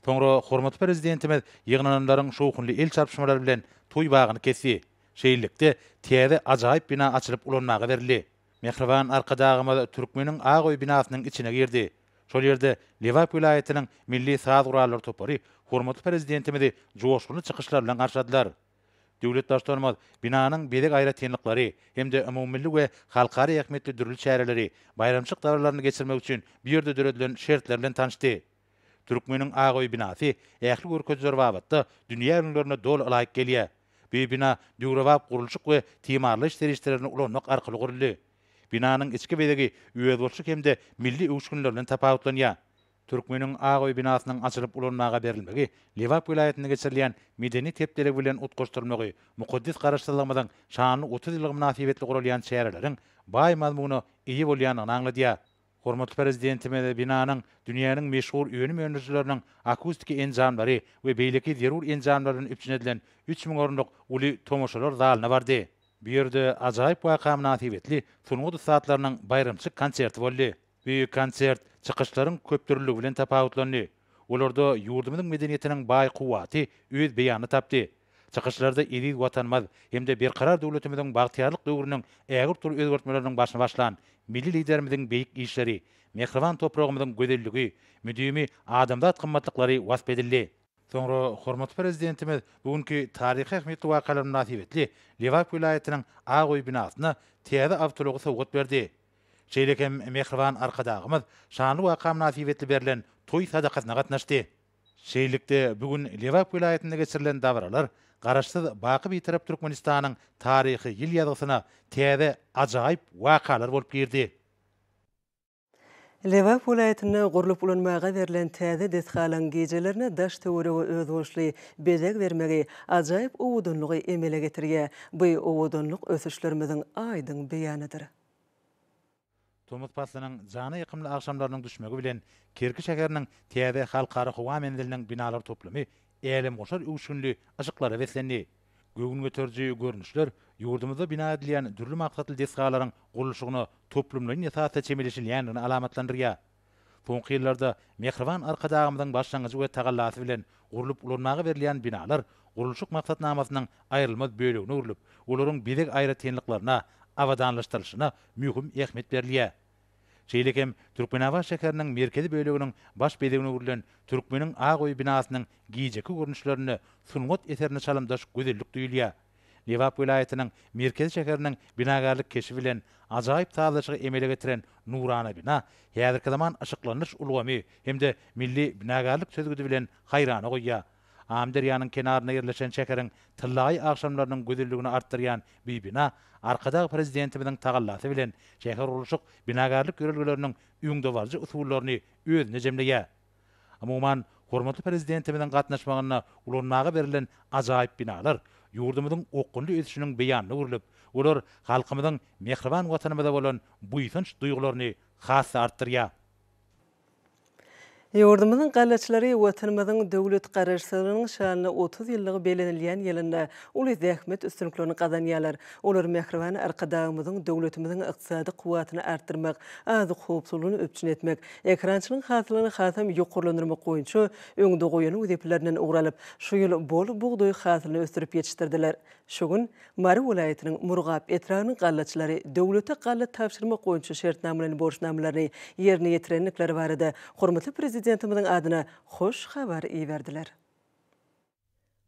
Soňra hormatly Prezidentimiz ýygnananlaryň şowhunly el çarpyşmalary bilen toý bagyny kesdi. Şeýlelikde, täze ajaýyp bina açylyp ulanmaga berildi. Mähriban Arkadagymyz Türkmeniň ak öý binasynyň içine girdi. Şol ýerde Lebap welaýatynyň milli saz gurallary topary hormatly Prezidentimizi joşgunly çykyşlar bilen garşyladylar. Döwlet Baştutanymyz binanyň bezeg aýratynlyklary hem-de umumymilli we halkara ähmiýetli dürli çäreleri, baýramçylyk dabaralaryny geçirmek üçin bu ýerde döredilen şertler bilen tanyşdy. Türkmeniň ak öý binasy ähli görkeziler babatda dünýä ülňülerine doly ylaýyk gelýär. Bu bina döwrebap gurluşyk we timarlaýyş serişdelerini ulanmak arkaly guruldy. Binanyň içki bezegi özboluşly hem-de milli öwüşginler bilen tapawutlanýar. Türkmeniň ak öý binasynyň açylyp ulanmaga berilmegi Lebap welaýatynda geçirilýän medeniýet hepdeligi bilen utgaşdyrylmagy mukaddes Garaşsyzlygymyzyň şanly otuz ýyllygy mynasybetli guralýan çäreleriň baý mazmuna eýe bolýandygyny aňladýar. Hormatly Prezidentimiz binanyň dünýäniň meşhur önüm öndürijileriniň akustiki enjamlary we beýleki zerur enjamlar bilen üpjün edilen üç müň orunlyk uly tomaşalar zalyna bardy. Bu ýerde ajaýyp waka mynasybetli sungat ussatlarynyň baýramçylyk konserti boldy. Bu konsert çykyşlaryň köpdürlüligi bilen tapawutlandy. Olarda ýurdumyzyň medeniýetiniň baý kuwwaty öz beýanyny tapdy. Çykyşlarda eziz Watanymyz hem-de Berkarar döwletimiziň bagtyýarlyk döwrüniň ägirt uly özgertmeleriniň başyny başlan Milli Liderimiziň beýik işleri, mähriban topragymyzyň gözelligi, müdimi adamzat gymmatlyklary wasp edildi. Soňra hormatly Prezidentimiz bu günki taryhy ähmiýetli wakalar mynasybetli Lebap welaýatynyň Ak öý binasyna täze awtoulagy sowgat berdi. Şeýle hem mähriban Arkadagymyz şanly waka mynasybetli berlen toý sadakasyna gatnaşdy. Şeýlelikde, bu gün Lebap welaýatynda geçirilen dabaralar Garaşsyz, baky Bitarap Türkmenistanyň taryhy ýyl ýazgysyna täze ajaýyp wakalar bolup girdi. Lebap welaýatynda gurlup ulanmaga berlen täze desgalaryň gijelerine daş-töwerege özboluşly bezeg bermegi ajaýyp owadanlygy emele getirýär. Bu owadanlyk ösüşlerimiziň aýdyň beýanydyr. Tomus paslynyň jana ýakymly agşamlarynyň düşmegi bilen Kerki şäheriniň täze Halkara howa menziliniň binalar toplumy älemgoşar öwüşginli yşyklara beslendi. Göwün göteriji görnüşler ýurdumyzda bina edilýän dürli maksatly desgalaryň gurluşygyna toplumlaýyn esasda çemeleşilýändigini alamatlandyrýar. Soňky ýyllarda mähriban Arkadagymyzyň başlangyjy we tagallasy bilen gurlup ulanmaga berilýän binalar gurluşyk maksatnamasynyň aýrylmaz bölegine öwrülip, olaryň bezeg aýratynlyklaryna, abadanlaşdyrylyşyna möhüm ähmiýet berilýär. Şeýle hem Türkmenabat şäheriniň merkezi böleginiň baş bezegine öwrülen Türkmeniň ak öýi binasynyň gijeki görnüşlerinde sungat eserine çalymdaş gözellik duýulýar. Lebap welaýatynyň merkezi şäheriniň binagärlik keşbi bilen ajaýyp sazlaşygy emele getiren nurana bina, häzirki zaman yşyklandyryş ulgamy hem-de milli binagärlik çözgüdi bilen haýrana goýýar. Amyderýanyň kenarynda ýerleşen şäheriň tyllaýy agşamlarynyň gözelligini artdyrýan bi bina Arkadag Prezidentimiziň tagallasy bilen şähergurluşyk-binagärlik ýörelgeleriniň öňdebaryjy usullaryny özünde jemleýär. Umuman, hormatly Prezidentimiziň gatnaşmagynda ulanmaga berlen ajaýyp binalar ýurdumyzyň okgunly ösüşiniň beýanyna öwrülip, olar halkymyzyň mähriban Watanymyza bolan buýsanç duýgularyny has-da artdyrýar. Ýurdumyzyň galaçylary Watanymyzyň döwlet Garaşsyzlygynyň şanyna otuz ýyllygy bellenilýän ýylynda uly zähmet üstünliklerini gazanýarlar. Olar mähriban Arkadagymyzyň döwletimiziň ykdysady kuwwatyny artdyrmak, azyk howpsuzlygyny üpjün etmek, Ekerançylygyň hasylyny hasam ýokarlandyrmak boýunça öňde goýan wezipelerinden ugur alyp, şu ýyl bol bugdaý hasylyny ösdürip ýetişdirdiler. Şu gün Mary welaýatynyň Murgap etrabynyň gallaçylary döwlete galla tabşyrmak boýunça şertnamalaýyn borçnamalaryny ýerine ýetirendikleri barada hormatly Prezidentimiziň adyna hoş habar iberdiler.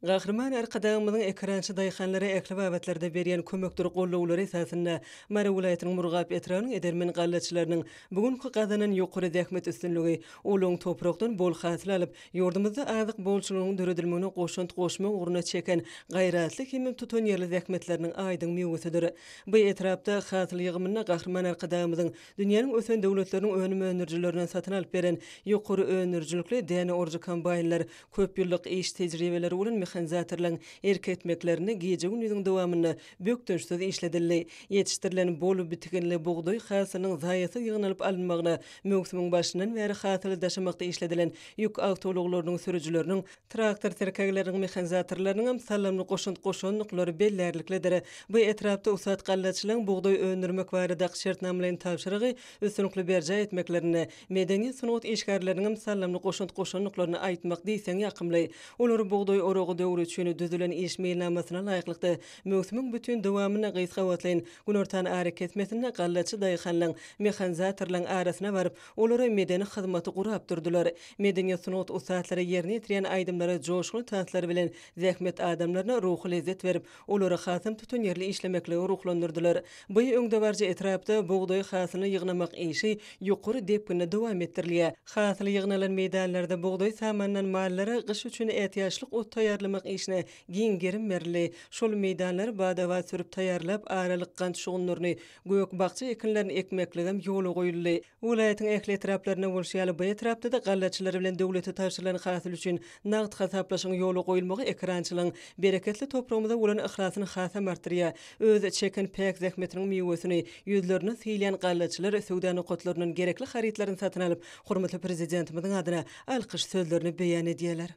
Gahryman Arkadagymyzyň ekerançy daýhanlara ähli babatlarda berýän kömekdir gollawlary esasynda Mary welaýatynyň Murgap etrabynyň edermen gallaçylarynyň bu günki gazanan ýokary zähmet üstünligi, ulag toprakdan bol hasyl alyp, ýurdumyzda azyk bolçulygynyň döredilmegine goşant goşmak ugrunda çeken gaýratly hem tutanýerli zähmetleriniň aýdyň miwesidir. Bu etrapda hasyl ýygymynda Gahryman Arkadagymyzyň dünýäniň ösen döwletleriniň önüm öndürijilerinden satyn alyp beren ýokary öndürijilikli däne orujy kombaýnlar Köp ýyllyk iş tejribeleri bolan mehanizatorlaryň erk etmeklerinde gije-gündiziň dowamynda bökdençsiz işledildi. Ýetişdirilen bol bitiginli bugdaý hasylynyň zaýasyz ýygnalyp alynmagyna möwsümiň başyndan bäri hasyly daşamakda işledilen ýük awtoulaglarynyň sürüjileriniň, traktor tirkegleriniň mehanizatorlarynyň hem saldamly goşant goşandyklary bellärliklidir. Bu etrapda ussat gallaçylaryň bugdaý öndürmek barada şertnamalaýyn tabşyrygy üstünlikli berjaý etmeklerinde, Medeni sungat işgärleriniňem sallymly goşant goşandyklaryny aýtmak diýseň ýakymly. Olar bugdaý oragy döwri üçin düzülen iş meýilnamasyna laýyklykda, möwsümiň bütin dowamynda gysgabatlaýyn günortan arakesmesinde gallaçy daýhanlaň, mehanzatorlaň arasyna baryp, olara medeni hyzmaty gurap durdular. Medeniýet sungat ussatlary ýerine ýetirýän aýdymlary joşgunly tanslar bilen zähmet adamlaryna ruhy lezzet berip, Olary hasam tutanýerli işlemeklige ruhlandyrdylar. Bu öňdebaryjy etrapda bugdaý hasylyny ýygnamak işi ýokary depginde dowam etdirilýär. Hasyl ýygnalan meýdanlarda bugdaý samandan mallara gyş üçin ätiýaçlyk ot taýýarlamak işine giň gerim berildi. Şol meýdanlary bada-bat sürüp taýýarlap, aralyk gant şugundyryny, gök-bakja ekinlerini ekmekligem ýola goýuldy. Welaýatyň ähli etraplarynda bolşy ýaly, bu etrapda-da gallaçylar bilen döwlete tabşyrylan hasyl üçin nagt hasaplaşygyň ýola goýulmagy ekerançylaryň bereketli topragymyza bolan yhlasyny hasam artdyrýar, öz çeken päk zähmetiniň miwesini ýüzlerine sylaýan gallaçylar söwda nokatlaryndan gerekli harytlaryny satyn alyp, hormatly Prezidentimiziň adyna alkyş sözlerini beýan edýärler.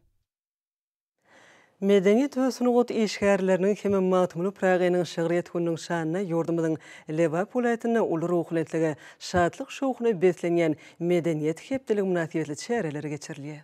Medeniýet we sungat işgärleriniň hem-ä Magtymguly Pyragynyň şygryýet gününiň şanyna ýurdumyzyň Lebap welaýatynda uly ruhubelentlige, şatlyk-şowhuna beslenýän Medeniýet hepdeligi mynasybetli çäreleri geçirilýär.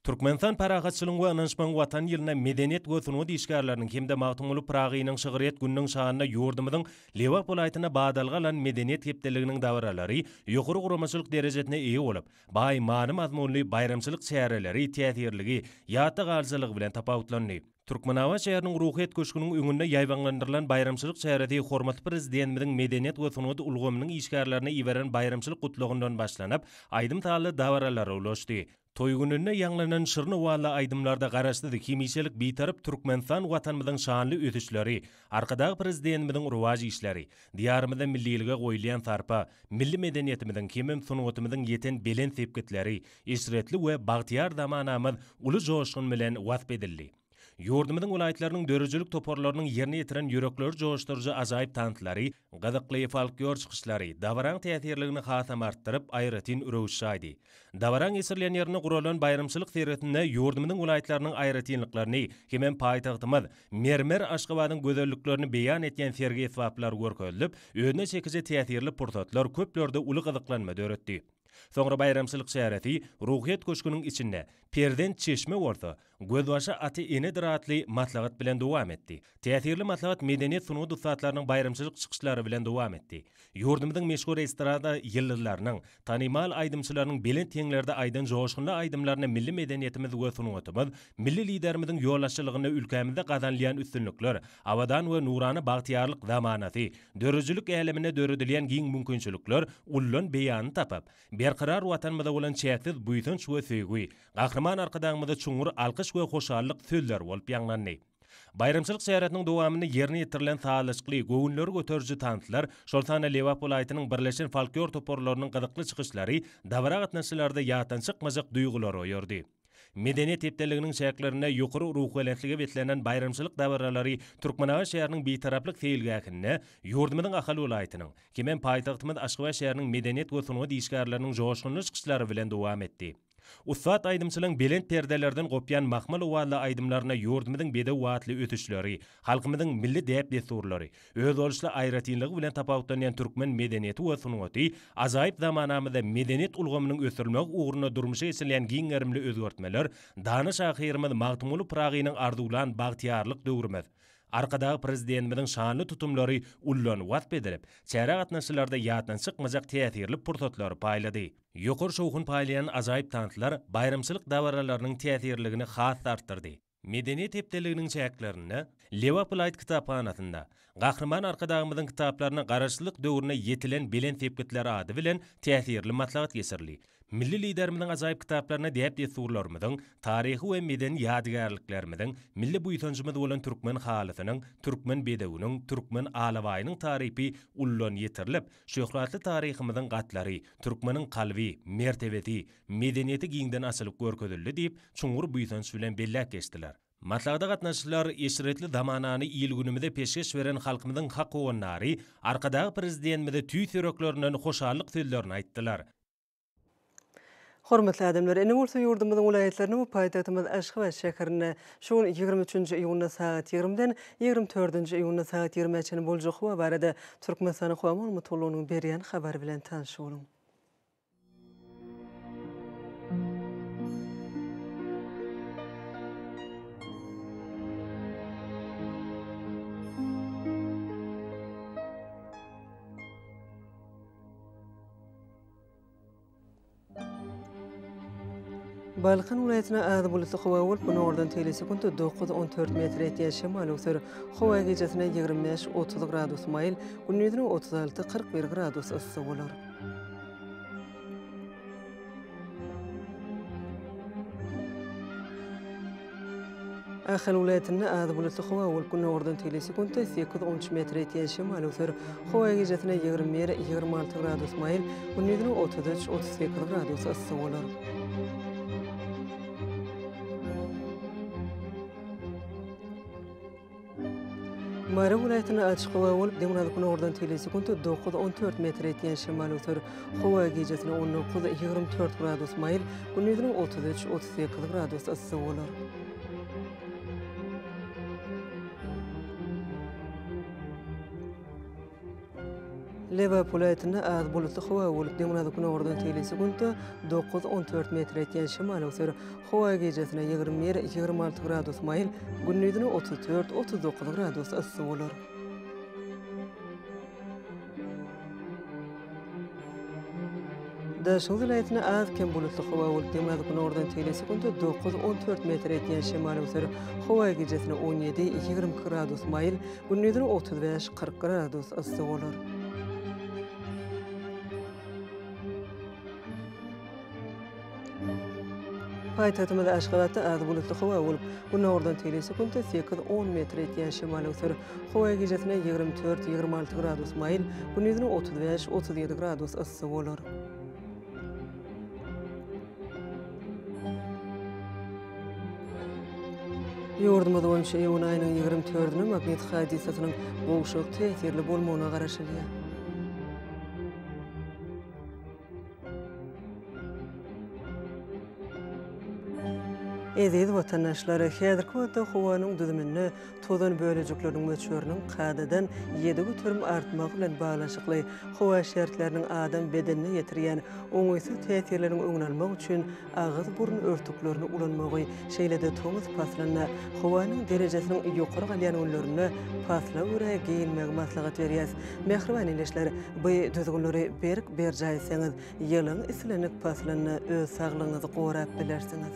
Türkmenistan Parahatçylygyň we ynançmagyň Watany ýylynda medeniýet we sungat işgärleriniň hem-de Magtymguly Pyragynyň şygryýet gününiň şanyna ýurdumyzyň Lebap welaýatynda badalga alan Medeniýet hepdeliginiň dabaralary ýokary guramaçylyk derejesine eýe bolup, Baý many-mazmunly baýramçylyk çäreleri täsirligi, ýatda galyjylygy bilen tapawutlandy. Türkmenabat şäheriniň Ruhyýet köşgüniň öňünde ýaýbaňlandyrylan baýramçylyk çäresi hormatly Prezidentimiziň medeniýet we sungat ulgamynyň işgärlerine iberen baýramçylyk gutlagyndan başlanyp, aýdym-sazly dabaralara ulaşdy. Toý gününde ýaňlanan şirin owazly aýdymlarda Garaşsyz, hemişelik Bitarap Türkmenistan Watanymyzyň şanly ösüşleri, Arkadag Prezidentimiziň rowaç işleri, Diýarymyzda millilige goýulýan sarpa, milli medeniýetimiziň hemem sungatymyzyň ýeten belent sepgitleri eşretli we bagtyýar zamanamyz uly joşgun bilen wasp edildi. Ýurdumyzyň welaýatlarynyň döredijilik toparlarynyň ýerine ýetiren ýürekleri joşduryjy ajaýyp tanslary, Gyzykly folklor çykyşlary dabaraň täsirligini hasam artdyryp, aýratyn röwüş çaýdy. Dabaraň geçirilýän ýerinde guralan baýramçylyk seresinde ýurdumyzyň welaýatlarynyň aýratynlyklaryny hemem paýtagtymyz, mermer Aşgabadyň gözelliklerini beýan etýän sergi esbaplary görkezilip, özüne çekiji täsirli pursatlar köplerde uly gyzyklanma döretdi. Soňra baýramçylyk çäresi Ruhyýet köşgüniň içinde, Perzent çeşme bolsa, Gözbaşy aty enedir atly maslahat bilen dowam etdi. Täsirli maslahat medeniýet-sungat ussatlarynyň baýramçylyk çykyşlary bilen dowam etdi. Ýurdumyzyň meşhur estrada ýyldyzlarynyň, tanymal aýdymçylarynyň belent heňlerde aýdan joşgunly aýdymlaryna milli medeniýetimiz we sungatymyz, milli Liderimiziň ýolbaşçylygynda ülkämizde gazanylýan üstünlikler, abadan we nurana bagtyýarlyk zamanasy, döredijilik äleminde döredilýän giň mümkinçilikler ullan beýanyny tapyp, berkarar Watanymyza bolan çäksiz buýsanç we söýgi, Gahryman Arkadagymyza çuňňur alkyş we hoşallyk sözleri bolup ýaňlandy. Baýramçylyk çäresiniň dowamynda ýerine ýetirilen sazlaşykly, göwünleri göteriji tanslar, şol sanda Lebap welaýatynyň birleşen folklor toparlarynyň gyzykly çykyşlary dabara gatnaşyjylarda ýatdan çykmajak duýgulary oýardy. Medeniýet hepdeliginiň çäklerinde ýokary ruhubelentlige beslenen baýramçylyk dabaralary Türkmenabat şäheriniň Bitaraplyk seýilgähinde ýurdumyzyň Ahal welaýatynyň hemem paýtagtymyz Aşgabat şäheriniň medeniýet we sungat işgärleriniň joşgunly çykyşlary bilen dowam etdi. Ussat aýdymçylaryň belent perdelerden gopýan mahmal owazly aýdymlaryna ýurdumyzyň bedew atly ösüşleri, halkymyzyň milli däp-dessurlary, özboluşly aýratynlygy bilen tapawutlanýan türkmen medeniýeti we sungaty, ajaýyp zamanamyzda medeniýet ulgamynyň ösdürilmegi ugrunda durmuşa geçirilýän giň gerimli özgertmeler dana şahyrymyz Magtymguly Pyragynyň arzuwlan bagtyýarlyk döwrümiz, Arkadagly Prezidentimiziň şanly tutumlary ullanan wasp edilip, çärä gatnaşyjylarda ýatdan çykmajak täsirli pursatlary paýlady. Ýokary şowhun paýlaýan ajaýyp tanslar baýramçylyk dabaralarynyň täsirligini has-da artdyrdy. Medeniýet hepdeliginiň çäklerinde Lebap welaýat kitaphanasynda Gahryman Arkadagymyzyň kitaplaryna Garaşsyzlyk döwründe ýetilen belent sepgitler ady bilen täsirli maslahat geçirildi. Milli Liderimiziň ajaýyp kitaplaryna däp-dessurlarymyzyň, taryhy we medeni ýadygärliklerimiziň, milli buýsanjymyz bolan türkmen halysynyň, türkmen bedewiniň, türkmen alabaýynyň tarypy ullan ýetirilip, Şöhratly taryhymyzyň gatlary, türkmeniň kalby, mertebesi, medeniýeti giňden açylyp görkezildi diýip, çuňňur buýsanç bilen belläp geçdiler. Maslahata gatnaşyjylar eşretli zamanany il-günümize peşgeş beren halkymyzyň hak howandary Arkadagly Prezidentimize tüýs ýüreklerinden hoşallyk sözlerini aýtdylar. Hormatly adamlar, ene gursa ýurdumyzyň welaýatlaryna we paýtagtymyz Aşgabat şäherinde şu gün ýigrimi üçünji iýunda sagat ýigrimiden ýigrimi dördünji iýunda sagat ýigrimä çenli boljak howa barada Türkmenistanyň Howa maglumatlygynyň berýän habary bilen tanyş boluň. Balkan welaýatyna az bulutly howa bolup, günordan teýle sekunt 9-on dört metr ýetýän şemal öwser. Howa gijasine ýigrimi bäş, otuz gradus maýyl, gündizine otuz alty, kyrk bir gradus yssy bolar. Ahal welaýatynda az bulutly howa bolup, günordan tegelýän sekuntda sekiz on üç metre ýetýän şemal öwser. Howa gijesine ýigrimi bir, ýigrimi alty gradus maýyl, gündizine otuz üç, otuz sekiz gradus yssy bolar. Mary welaýatynda açyk howa bolup, demirgazyk günordan tili sekunt dokuz-on dört metr etýän şemal öser. Howa gijesine on dokuz-ýigrimi dört gradus maýyl, gündiziniň otuz üç-otuz sekiz gradus yssy bolar. Lebap welaýatynda az bulutly howa bolup, demirgazyk-gündogardan tegelýän sekuntda dokuz, on dört metr etýän şemal öwser. Howa gijesine ýigrimi bir, ýigrimi alty gradus maýyl, gündizine otuz dört, otuz dokuz gradus yssy bolar. Daşoguz welaýatynda az-kem bulutly howa bolup, demirgazyk günordan tegelek sekuntda dokuz, on dört metr edýän şemal öser. Howa gijesi on ýedi, ýigrimi iki gradus maýyl, gündizine otuz bäş, kyrk gradus yssy bolar. Paýtagtymyz Aşgabatda az bulutly howa bolup, günordan teýli sekuntda sekiz, on metr etýän şemal öwser. Howa gijesine ýigrimi dört, ýigrimi alty gradus maýyl, gündizine otuz bäş, otuz ýedi gradus yssy bolar. Ýurdumyz boýunça iýun aýynyň ýigrimi dördüne magnit hadysasynyň gowşak täsirli bolmagyna garaşylýar. Eziz watandaşlar, häzirki wagtda howanyň düzüminde tozan bölejikleriniň möçberiniň kadadan ýedi göterim artmagy bilen baglanyşykly howa şertleriniň adam bedenine ýetirýän oňaýsyz täsirleriň öňüni almak üçin agyz-burun örtüklerini ulanmagy, şeýle-de tomus paslynda, howanyň derejesiniň ýokary galýan günlerinde pasla görä geýinmegi maslahat berýäs. Mähriban ildeşler, bu düzgünleri berk berjaý etseňiz, ýylyň islendik paslynda öz saglygyňyzy gorap bilersiňiz.